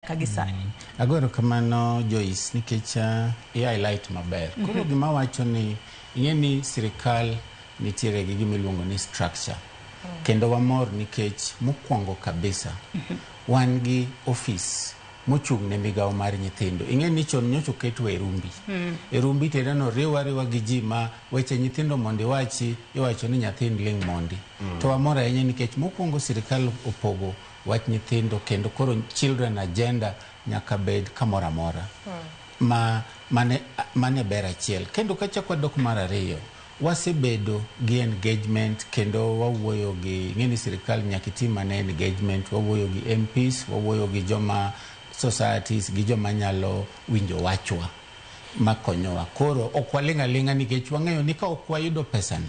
ka gisani. Mm. Agoro kamano Joyce nikech uh, i highlight maber. Mhm. Koro gima wacho ni ing'e ni sirikal nitiere gi gima iluongo ni structure. Mm. Kendo wamor nikech mokwongo kabisa mhm. wan gi ofis mochung' ne migawo mar nyithindo ing'e ni chon nyocha oket wa e rumbi mm. e rumbi tedeno riwa riwa gi ji ma weche nyithindo mondo iwachi iwacho ni nyathind ling' mondi mm. to wamor ahinya nikech mokwongo sirikal opogo wach nyithindo kendo koro children agenda nyaka bed kamoro amora ma mane mane ber achiel kendo kachak wadok mar ariyo wasebedo gi engagement kendo wawuoyo gi ng'eni sirikal nyaka itim ane engagement wawuoyo gi MPs wawuoyo gi joma societies gi joma nyalo winjo wachwa makonyowa koro ok waling' aling'a nikech wang'eyo ni ka ok wayudo pesani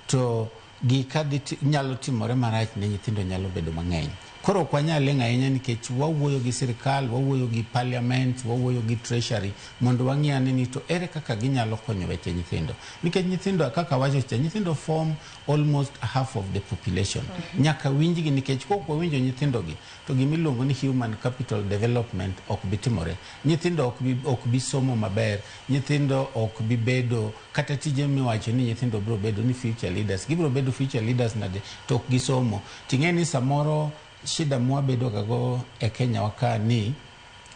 to Gika dhi ti- nyalo timore marach ne nyithindo nyalo bedo mang'eny. Koro ok wanyal leng' ahinya nikech wawuoyo gi sirkal, wawuoyo gi parliament, wawuoyo gi treasury mondo wang'i ane ni to ere kaka ginyalo konyo weche nyithindo. Nikech nyithindo kaka wacho cha, nyithindo form almost half of the population. Nyaka winjgi nikech kok wawinjo nyithindogi to gima iluongo ni human capital development ok bi timore. Nyithindo ok bi, ok bi somo maber, nyithindo ok bi bedo Kata tije miwacho ni nyithindo biro bedo ni future leaders, gibiro bedo future leaders nade to ok gisomo? Ting'e ni samoro shida mwabedo gago e Kenya wa ka ni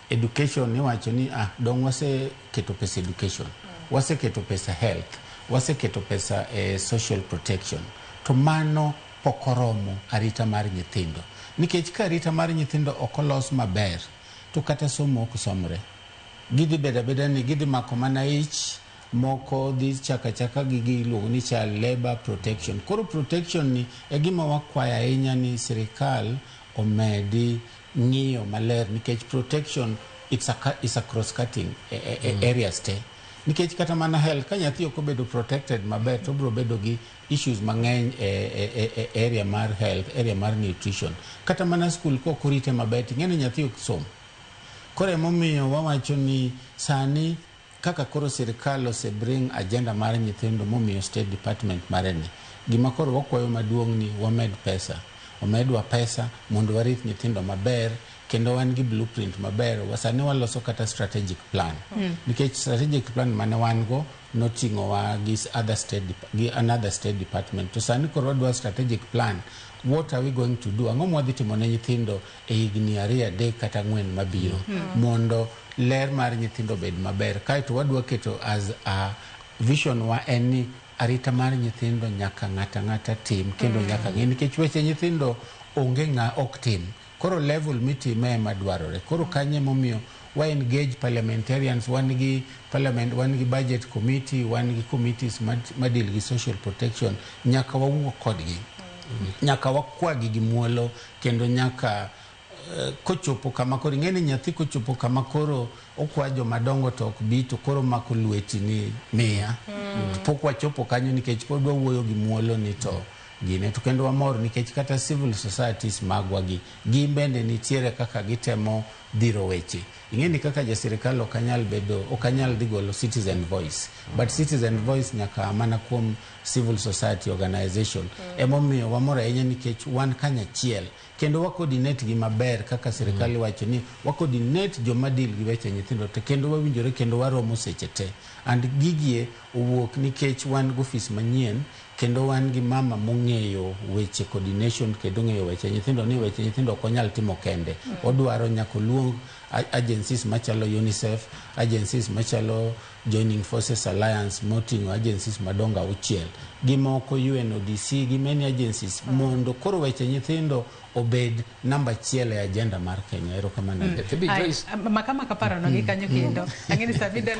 education iwacho ni ah, dong' waseketo pesa education, waseketo pesa health, waseketo pesa e social protection. To mano pok oromo arita mar nyithindo. Nikech ka arita mar nyithindo ok olos maber, to kata somo ok somre. Gidhi bedo abeda ni gidhi mako mana ich moko dhi chako achaka gi giluongo ni child labor protection. Koro protection ni e gima wakwayo ahinya ni sirikal omedi ng'iyo maler nikech protection it's a, it's a cross cutting e, e, e mm. areas te nikech kata mana health ka nyathi ok obedo protected maber to obiro bedo gi issues mang'eny e, e, e, e area mar health area mar nutrition kata mana school ka ok orite maber ting'e ni nyathi ok som koro emomiyo wawacho ni sani Kaka koro sirkal ose bring agenda mar nyithindo momiyo state department mare ni, gima koro wakwayo maduong' ni wamed pesa, omedwa pesa mondo warith nyithindo maber kendo wan gi blueprint maber, sani waloso kata strategic plan nikech strategic plan mane wan go noting'o wa gi other state, gi another state department to sani koro wadwa strategic plan, what are we going to do, ang'o mwadhi timo ne nyithindo e higni ariyo, adek kata ang'wen mabiro mondo ler mar nyithindo obed maber. Kaeto wadwa keto as a vision wa en ni arita mar nyithindo nyaka ng'ato ang'ata tim kendo nyaka ng'e nikech weche nyithindo onge ng'a ok tim. Koro level mitime ema dwarore. Koro kanyo emomiyo wa engage parliamentarians, wan gi parliament, wan gi budget committee, wan gi committees ma ma deal gi social protection. Nyaka wawuo kodgi. Nyaka wakwagi gi muolo. kendo nyaka kochopo kama koro ing'e ni nyathi kochopo kama koro okwa jomadongo to ok bi to koro mako lweti ni miya mm. pok wachopo kanyo nikech pod wawuoyo gi muolo ni to gine to kendo wamor nikech kata civil societies magwa gi gin bende nitiere kaka gitemo dhiro weche ing'e ni kaka jasirikal ok anyal bedo ok anyal dhi golo citizen voice but citizen voice nyaka mana kuom civil society organization emomiyo wamor ahinya nikech wan kanyachiel kendo wacoordinate gi maber kaka sirikal iwacho ni wacoordinate joma deal gi weche nyithindo te kendo wawinjore kendo waromo seche te and gigie owuok nikech wan gi ofis manyien kendo wan gi mama mong'eyo weche coordination kendo ong'eyo weche nyithindo ni weche nyithindo ok onyal timo kende odwaro nyaka oluong a- agencies machalo unicef agencies machalo Joining Forces Alliance moting'o agencies madongo auchiel gi moko UNODC gi many agencies mondo koro weche nyithindo obed namba achiel e agenda mar Kenya. Erokamano Adethi. Bi Joyce. Maka maka parono gi kanyo kendo. Ang'e ni saa midel